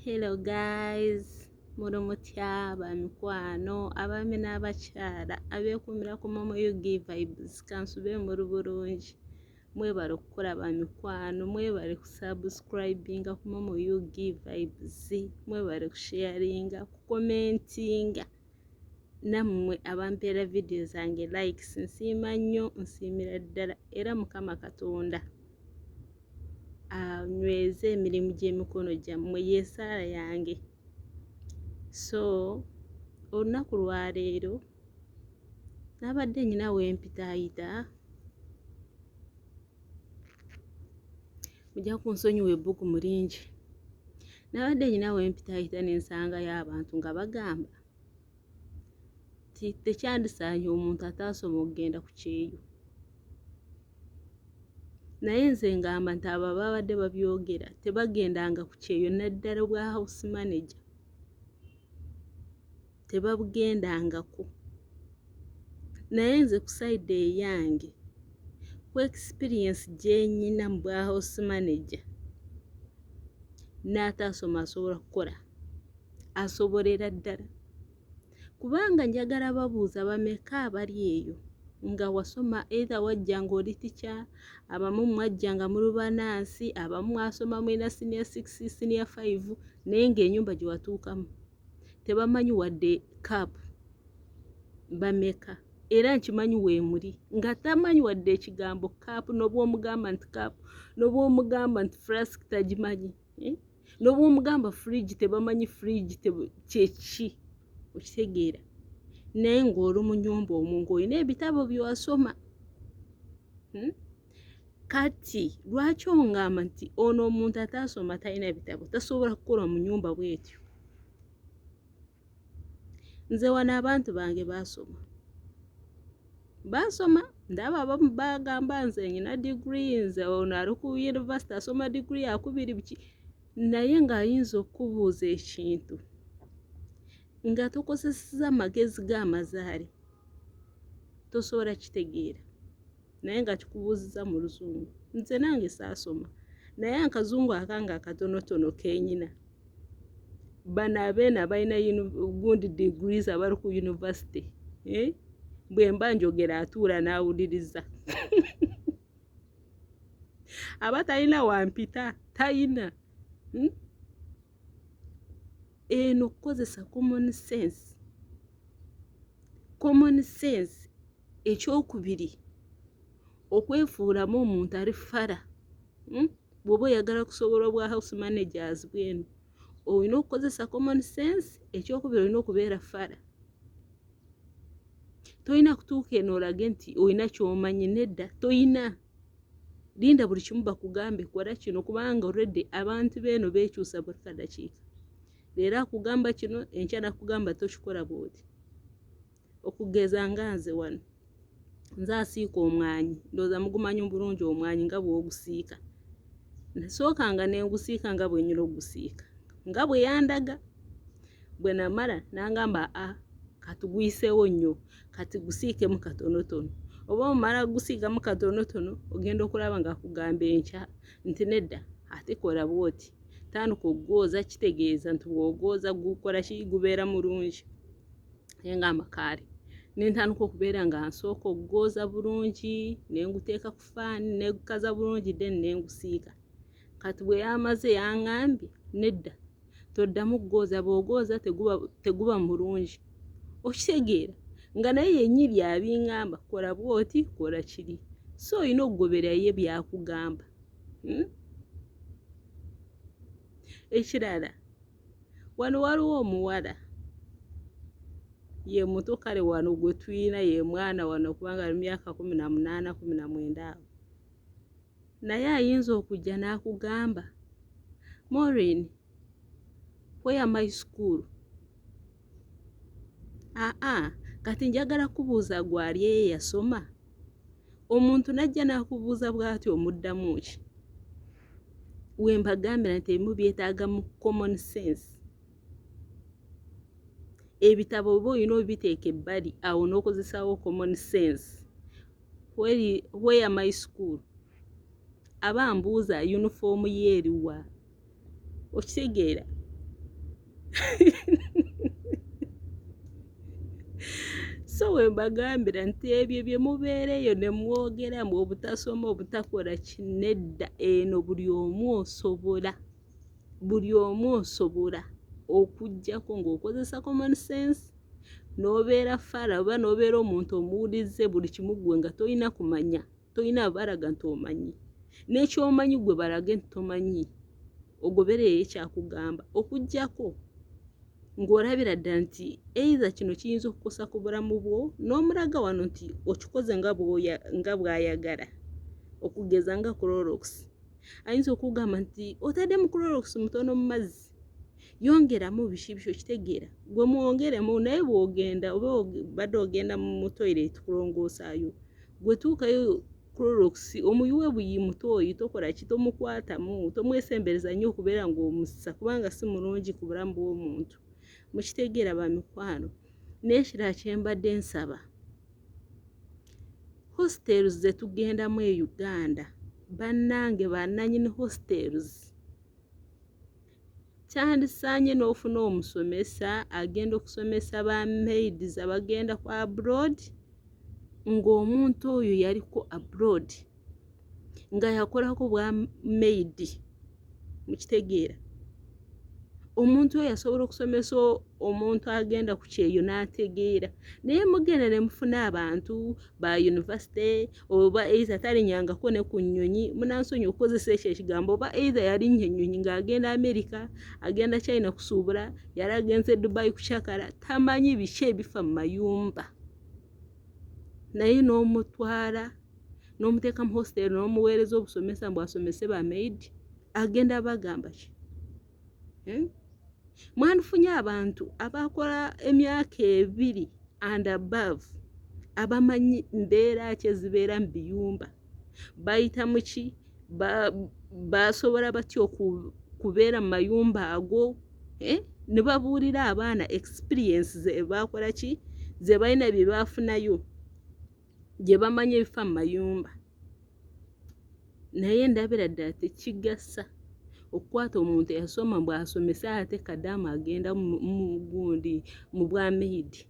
Hello guys, muli mutya bamikwano abaami n'abakyala abeekuumira ku Momo UG Vibes kansube muli bulungi mwebale okukola bamikwano mwebale kusubscribinga ku Momo UG Vibes mwebale kusharinga kukomentinga nammwe abampeera vidiyo zange likes nsiima nnyo nsiimira ddala era mukama katonda anyweze emirimu gy'emikono gyammwe yesaala yange so olunaku lwaleero nabadde nyina wempitaayita mujja kunsonyiwa ebbugumu lingi nabadde nyina wempitayita nensangayo abantu nga bagamba ti tekyandisaanye omuntu ataasoma okugenda ku kyeyo naye nze ngamba nti abo ababadde babyogera tebagendanga ku kyeyo naddala obwa house manager tebabugendangako naye nze ku sayidi eyange ku ekisipiriyensi gyenyina mu bwa house manager n'ataasoma asobola kukola asobolera ddala kubanga njagala babuuza bameka abali eyo nga wasoma eitha wajja ng'oli tica abamu mwajja nga muli banaansi abamu mwasoma mulina siniya six siniya five naye ng'enyumba gye watuukamu tebamanyi wadde cap bameka era nkimanyi weemuli nga tamanyi wadde ekigambo cap nobwomugamba nti cap nobwomugamba nti frask tagimanyi eh? nobwomugamba fridge tebamanyi fridge kyeki okitegeera naye ng'oli mu nyumba omu ng'olina ebitabo byewasoma hmm? kati lwaki ongamba nti ono omuntu ataasoma talina bitabo tasobola kukola mu nyumba bwetyo nze wano abantu bange baasoma baasoma ndaba abamu bagamba nze nyina digiri nze ono ali ku yunivasite asoma digiri yakubiri biki naye ng'ayinza okukubuuza ekintu nga tokozeseza amagezi g'amazaali tosobola kitegeera naye nga kikubuuziza mu luzungu nze nange saasoma naye akazungu akanga akatonotono kenyina bano abeena balina gundi degrees abali ku university eh? bwe mba njogera atuula n'awuliriza aba talina wampita talina hmm? Eno kukozesa common sense. Common sense ekyokubiri okwefuulamu omuntu ali fala hmm? bw'oba oyagala kusobola obwa house managers bwenu olina okukozesa common sense ekyokubiri olina okubeera fala tolina kutuuka eno olage nti olina kyomanyi nedda tolina linda buli kimu bakugambe kola kino kubanga already abantu beeno bekyusa buli kadakiika leero akugamba kino enkya nakugamba tokikola bwoti okugeza nga nze wano nze asiika omwanyi ndooza mugumanyi bulungi omwanyi nga bwogusiika nasooka nga nengusiika nga bwenyina ogusiika nga bweyandaga bwenamala nangamba a ah, katugwiseewo nnyo kati gusiikemu katonotono oba omala gusiigamu katonotono ogenda okulaba nga kugamba enkya nti nedda ate kola bwoti tandika okugooza kitegeeza nti bwogooza gukola ki gubeera mulungi naye nga amakaali nentandika okubeera nga nsooka okugooza bulungi nenguteeka ku faani negukaza bulungi then nengusiika kati bweyamaze yangambye nedda toddamu kugooza bw'ogooza teguba teguba mulungi okitegeera nga naye yennyini byabingamba kola bw'oti kola kiri so olina okugoberera ye byakugamba hmm? ekirala wano waliwo omuwala ye muto kale wano gwe tulina ye mwana wano kubanga ali myaka kumi na munaana kumi na mwenda awo naye ayinza okujja n'akugamba morin where my school aa kati njagala kubuuza gwali eye yasoma omuntu najja n'akubuuza bwati omuddamu ki we mbagambira nti ebimu byetaaga mu common sense ebitabo oba olina obiteeka ebbali awo n'okozesawo common sense where, where my school aba mbuuza yunifoomu yeeriwa okitegeera so we mbagambira nti ebyo bye mubeera eyo ne mwogeramu obutasoma obutakola kinedda eno buli omu osobola buli omu osobola okujjako ng'okozesa common sense n'obeera fara oba n'obeera omuntu omuwulizze buli kimu ggwe nga tolina kumanya tolina abalaga nti omanyi n'ekyomanyi gwe balage nti tomanyi ogobereyo ekyakugamba okujjako ng'olabira ddala nti eitha kino kiyinza okukosa ku bulamu bwo n'omulaga wano nti okikoze nga bw'ayagala okugeza nga clorox ayinza okugamba nti otadde mu clorox mutono mu mazzi yongeramu bishibisho kitegeera gwe mwongeremu naye bwogenda oba badde ogenda mu toilet kulongoosayo gwe tuukayo clorox omuyuwe buyi mutooyi tokola ki tomukwatamu tomwesembereza nnyo okubeera ng'omussa kubanga si mulungi ku bulamu bw'omuntu mukitegeera bamikwano n'ekirala kyembadde nsaba Hostels ze tugendamu e Uganda bannange bannanyini hostels kyandisaanye n'ofuna omusomesa agenda okusomesa ba maids abagenda ku abroad ng'omuntu oyo yaliko abroad. nga yakolako bwa maidi mukitegeera omuntu oyo asobola okusomesa omuntu agenda ku kyeyo n'ategeera naye mugenda ne mufuna abantu ba yunivasite oba eiza talinyangako ne ku nnyonyi munansonyi okukozesa ekyo ekigambo oba eiza yalinnya ennyonyi ng'agenda amerika agenda china kusuubula yali agenze dubai kucakala tamanyi biki ebifa mu mayumba naye n'omutwala n'omuteeka mu hostel n'omuweereza obusomesa mbu asomese ba maid agenda bagamba ki eh? mwandifunye abantu abakola emyaka ebiri and above abamanyi mbeera ki ezibeera mu biyumba bayita muki basobola batya okubeera mu mayumba ago eh? ne babuulira abaana experience ze baakola ki ze balina bye baafunayo gye bamanyi ebifa mu mayumba naye ndabira ddala tekigasa okukwata omuntu eyasoma mbw asomesa ate kadamu agenda mugundi mu bwa maidi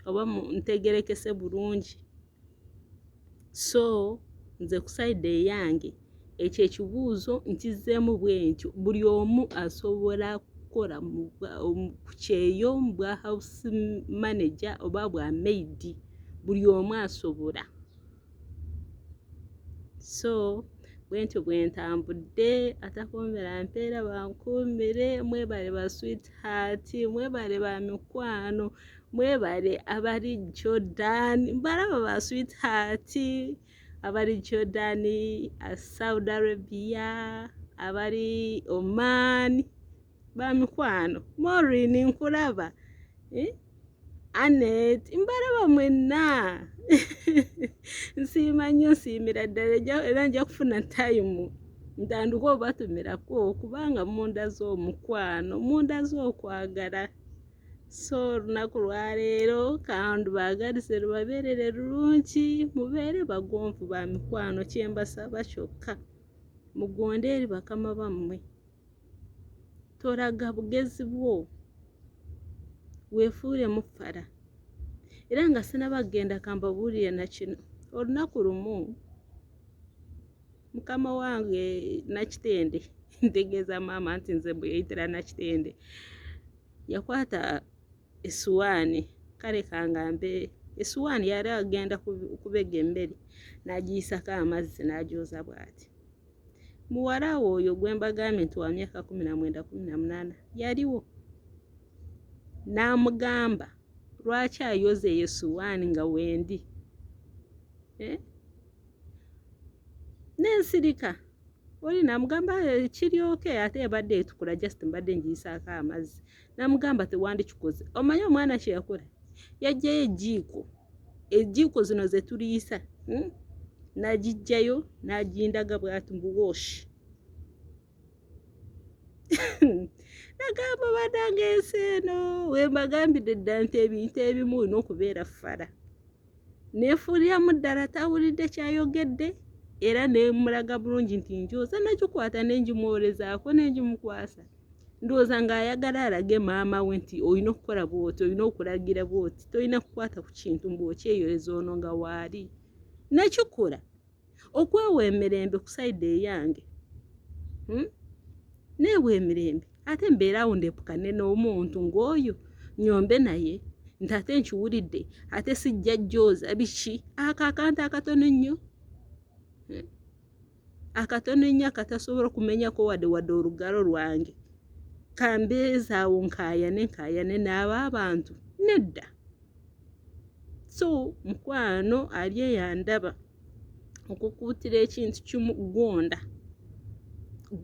oba ntegerekese bulungi So nze ku sayidi eyange ekyo ekibuuzo nkizzeemu bwentyo buli omu asobola kukola ku kyeyo mu bwa hawusi maneja oba bwa meyidi buli omu asobola so bwentyo bwe ntambudde atakuumira mpeera bankuumire mwebale ba swiiti haati mwebale ba mikwano mwebale abali jordan mbalaba ba sweetheart abali jordan uh, saudi arabia abali oman bamikwano morin nkulaba eh? anet mbalaba mwenna nsiima nnyo nsiimira ddala era nja kufuna tayimu ntandika obatumirako kubanga munda z'omukwano munda z'okwagala so olunaku lwaleero kandi baagalise lubabeerere lulungi mubeere bagonvu ba mikwano kyembasaba kyokka mugonde eri bakama bammwe toraga bugezi bwo weefuule muffala era nga sinabagenda kambabuulire na kino olunaku lumu mukama wange nakitende ntegeeza maama nti nze mbuyeyitira nakitende yakwata esuwaani kale kangambe esuwaani yali agenda kubega emmere n'agiyisako amazzi n'agyoza bw'ati muwala we oyo gwe mbagambye nti wa myaka kumi na mwenda kumi na munaana yaliwo n'amugamba lwaki ayoza eyo esuwaani nga wendi eh? n'ensirika oli namugamba eh, kiryoke ate ebadde etukula just mbadde ngiyisaako amazzi namugamba tewandikikoze omanyi omwana kyeyakola yajjayo ejiiko ejiiko zino zetuliyisa hmm? nagijjayo nagindaga bwati mbuwoshi nagamba banange ensi eno wembagambidde dda nti ebintu ebimu olina okubeera fala neefuuliramu ddala tawulidde kyayogedde era nemulaga bulungi nti njooza nagikwata nenjimwolezaako nenjimukwasa ndowooza ng'ayagala alage maama we nti olina okukola bwoti olina okulagira bwoti tolina kukwata ku kintu mbu okyeyoleza ono nga waali nakikola okwewa emirembe ku sayidi eyange hmm? neewa emirembe ate mbeerawo ndepukane n'omuntu ng'oyo nyombe naye nti ate nkiwulidde ate sijja jjooza biki ako akantu akatono ennyo hmm? akatono ennyo akatasobola okumenyako wadde wadde olugalo lwange kambeezaawo nkaayane nkaayane n'abo abantu nedda so mukwano ali eyandaba okukuutira ekintu kimu gonda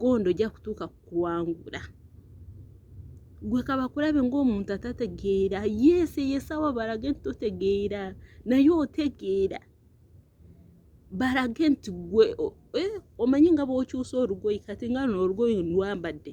gonda ojja kutuuka kukuwangula gwe kabakulabe ng'omuntu atategeera yeesi yesawa balage nti totegeera naye otegeera balage nti gwe eh, omanyi nga bwokyusa olugoyi kati nga luno olugoyi ndwambadde